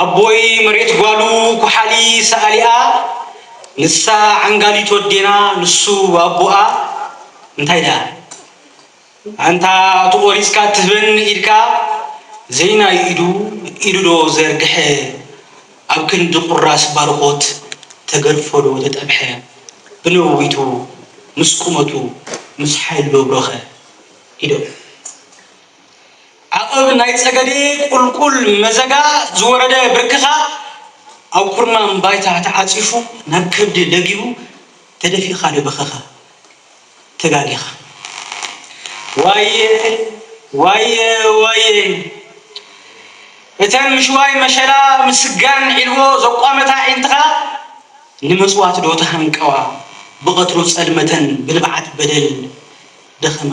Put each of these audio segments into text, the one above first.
ኣቦይ መሬት ጓሉ ኩሓሊ ሰኣሊኣ ንሳ ዓንጋሊት ወዴና ንሱ ኣቡኣ እንታይ ደኣ ኣንታ እቲ ቆሪጽካ እትህበኒ ኢድካ ዘይናይ ኢዱ ኢዱ ዶ ዘርግሐ ኣብ ክንዲ ቁራስ ባርኾት ተገርፎ ዶ ተጠብሐ ብነዊቱ ምስ ቁመቱ ምስ ሓይሉ ዶ ኣብሮኸ ኢዶም ዓቐብ ናይ ጸገዴ ቁልቁል መዘጋ ዝወረደ ብርክኻ ኣብ ኩርናም ባይታ ተዓጺፉ ናብ ከብዲ ለጊቡ ተደፊእኻ ዶ በኸኻ ተጋጊኻ ዋየ ዋየ ዋየ እተን ምሽዋይ መሸላ ምስጋን ዒልቦ ዘቋመታ ኣዒንትኻ ንመጽዋት ዶ ተሃንቀዋ ብቐትሩ ጸልመተን ብንብዓት በደል ደኸማ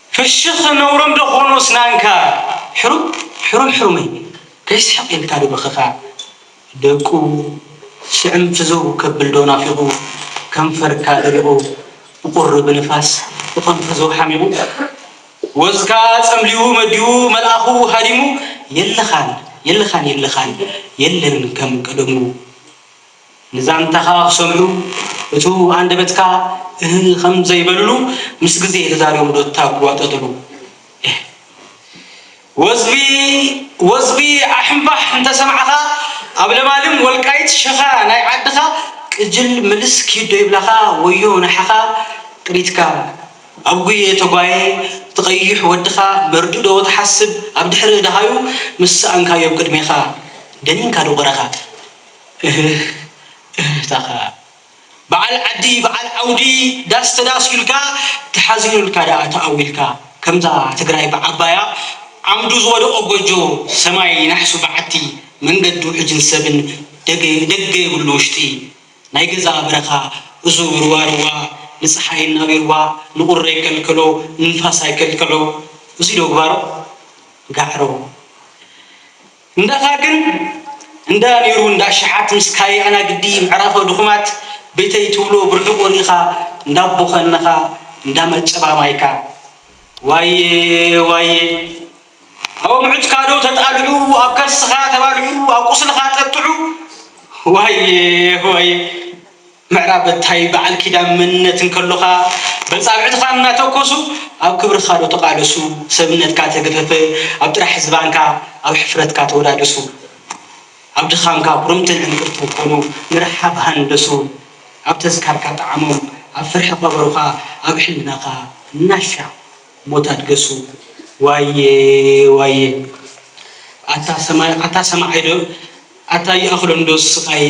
ፍሽኽ ነውሮም ዶ ኾኑ እስናንካ ሕሩም ሕሩም ሕሩመይ ከይስሕቕ ኢልካ ዶ በኽኻ ደቁ ሽዕም ፍዝው ከብል ዶ ናፊቑ ከንፈርካ ደሪቑ ብቑሪ ብንፋስ ብቐንፈዘው ሓሚቑ ወዝካ ጸምሊዉ መዲዉ መልኣኹ ሃዲሙ የለኻን የለኻን የለኻን የለን ከም ቀደሙ ንዛንታኻ ክሰምዑ እቱ ኣንደበትካ እህህ ከም ዘይበልሉ ምስ ግዜ ተዛሪቦም ዶ ተጓጠጥሉ እህ ወዝቢ ወዝቢ ዓሕምባሕ እንተ ሰማዕኻ ኣብ ለማልም ወልቃይት ሸኻ ናይ ዓድኻ ቅጅል ምልስ ኪድ ዶ ይብላኻ ወዮ ናሓኻ ጥሪትካ ኣብ ጉየ ተጓየ እቲ ቀይሕ ወድኻ መርድእ ዶ ትሓስብ ኣብ ድሕሪ ደሃዩ ምስ ሰኣንካዮም ቅድሜኻ ደኒንካ ዶ ቀረኻ እህህ እህህ ታካ በዓል ዓዲ በዓል ዓውዲ ዳስ ተዳስዩልካ ተሓዚኑልካ ደኣ ተኣዊልካ ከምዛ ትግራይ ብዓባያ ዓምዱ ዝወደቆ ጎጆ ሰማይ ናሕሱ በዓቲ መንገዱ ሕጅን ሰብን ደገ የብሉ ውሽጢ ናይ ገዛ በረካ እዙ ርዋ ርዋ ንፀሓይ እናቢርዋ ንቁሪ ኣይከልከሎ ንንፋስ ኣይከልከዖ እዙይ ዶ ግባሮ ጋዕሮ። እንዳኻ ግን እንዳ ኔሩ እንዳ ኣሽሓት ምስ ካይ ኣናግዲ ምዕራፎ ድኹማት ቤተይ ትብሎ ብርሑቁ ሪኢኻ እንዳ ቦኸንኻ እንዳ መጨባ ማይካ ዋየ ዋየ ኣወምዑትካ ዶ ተጣልዑ ኣብ ከርስኻ ተባልዑ ኣብ ቁስልኻ ጠጥዑ ዋየ ዋየ ምዕራብ እንታይ በዓል ኪዳን መንነት እንከሎኻ በጻብዕትኻ እናተኮሱ ኣብ ክብርኻ ዶ ተቃለሱ ሰብነትካ ተገፈፈ ኣብ ጥራሕ ዝባንካ ኣብ ሕፍረትካ ተወዳደሱ ኣብ ድኻምካ ኩርምትን ዕንቅርትን ኮኑ ንርሓብ ሃንደሱ ኣብ ተዝካርካ ጠዓሞም ኣብ ፍርሒ ቀበሩኻ ኣብ ሕልናኻ እናሻዕ ሞት ኣድገሱ ዋየ ዋየ ኣታ ሰማይ ኣታ ሰማዓይ ዶ ኣታ ይኣኽሎ እንዶ ስቃየ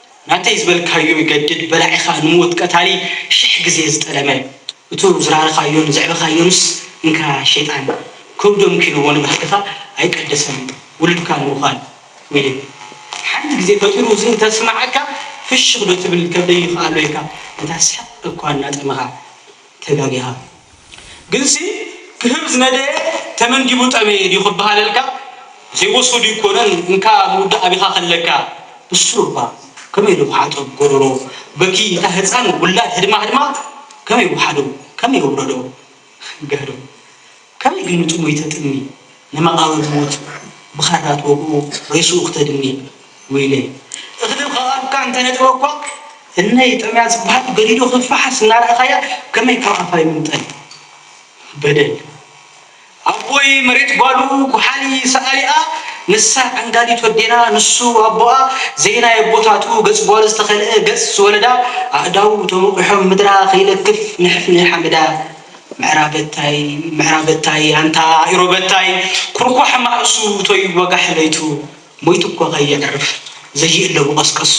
ናተይ ዝበልካዮ ይገድድ በላዒኻ ንሙዉት ቀታሊ ሽሕ ግዜ ዝጠለመ እቱ ዝራርኻዮን ዘዕበኻዮንስ እንካ ሸይጣን ከብዱ ኣምኪንዎ ንባህልኻ ኣይቀደሰን ዉሉድካ ምዉኻል ዊሊ ሓንቲ ግዜ ፈጢሩ እዚ እንተስማዓካ ፍሽኽ ዶ ትብል ከብደይ ይኽኣሎ ኢልካ እንታ ስሕቅ እኳ እናጠመኻ ተጋጊኻ ግንሲ ክህብ ዝነደየ ተመንዲቡ ጠመየ ድዩ ክበሃለልካ ዘይወሶ ድዩ ኮነን እንካ ምውዳእ ኣቢኻ ከለካ ንሱ እባ ከመይ ኢሉ ክሓጦ ጎሮሮ በኪ እታ ህጻን ውላድ ህድማ ህድማ ከመይ ውሓዶ ከመይ ውረዶ ጋዶ ከመይ ግን እቲ ሞይተ ጥኒ ንመቓብር ሞት ብኻራ ትወግኡ ሬስኡ ክተድኒ ዊለይ። እኽሊ ከቓብካ እንተነጥበኳ እነይ ጠምያ ዝብሃል ገዲዱ ክፋሓስ እናረኣኻያ ከመይ ካብ ኣፋ ይምንጠል በደል። ኣቦይ መሬት ጓሉ ጉሓሊ ሰኣሊኣ ንሳ ዓንጋሊት ወዴና ንሱ ኣቦኣ ዘይናይ ኣቦታቱ ገጽ ጓሉ ዝተኸልአ ገጽ ዝወለዳ ኣእዳዉ ተሞቒሖም ምድራ ከይለክፍ ንሕፍኒ ሓመዳ ምዕራበታይ ምዕራበታይ ኣንታ ኢሮበታይ ኩርኳሕ ማእሱ ቶይ ወጋሕ ለይቱ ሞይቱ እኮ ከየዕርፍ ዘይእለቡ ቀስቀሱ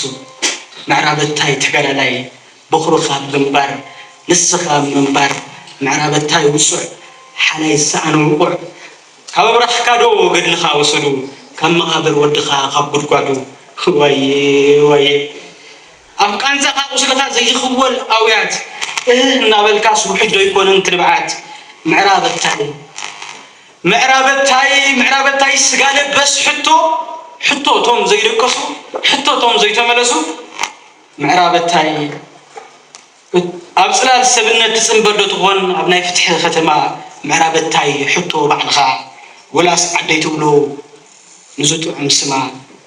ምዕራበታይ ተጋዳላይ በኹርኻ ኣብ ግንባር ንስኻ ኣብ ምንባር ምዕራበታይ ውጹዕ ሓላይ ዝሰኣነ ውቑዕ ካብ ኣብራኽካ ዶ ገድልኻ ወሰዱ ካብ መቓብር ወድኻ ካብ ጉድጓዱ ዋየ ዋየ ኣብ ቃንዛኻ ቁስልኻ ዘይኽወል ኣውያት እህህ እናበልካስ ውሕጅ ዶ ኣይኮነን ትንብዓት ምዕራበታይ ምዕራበታይ ምዕራበታይ ስጋ ለበስ ሕቶ ሕቶ እቶም ዘይደቀሱ ሕቶ እቶም ዘይተመለሱ ምዕራበታይ ኣብ ጽላል ሰብነት ትጽንበር ዶ ትኾን ኣብ ናይ ፍትሒ ከተማ ምዕራበታይ ሕቶ ባዕልኻ ወላስ ዓደይ ትብሎ ንዝጥዑም ስማ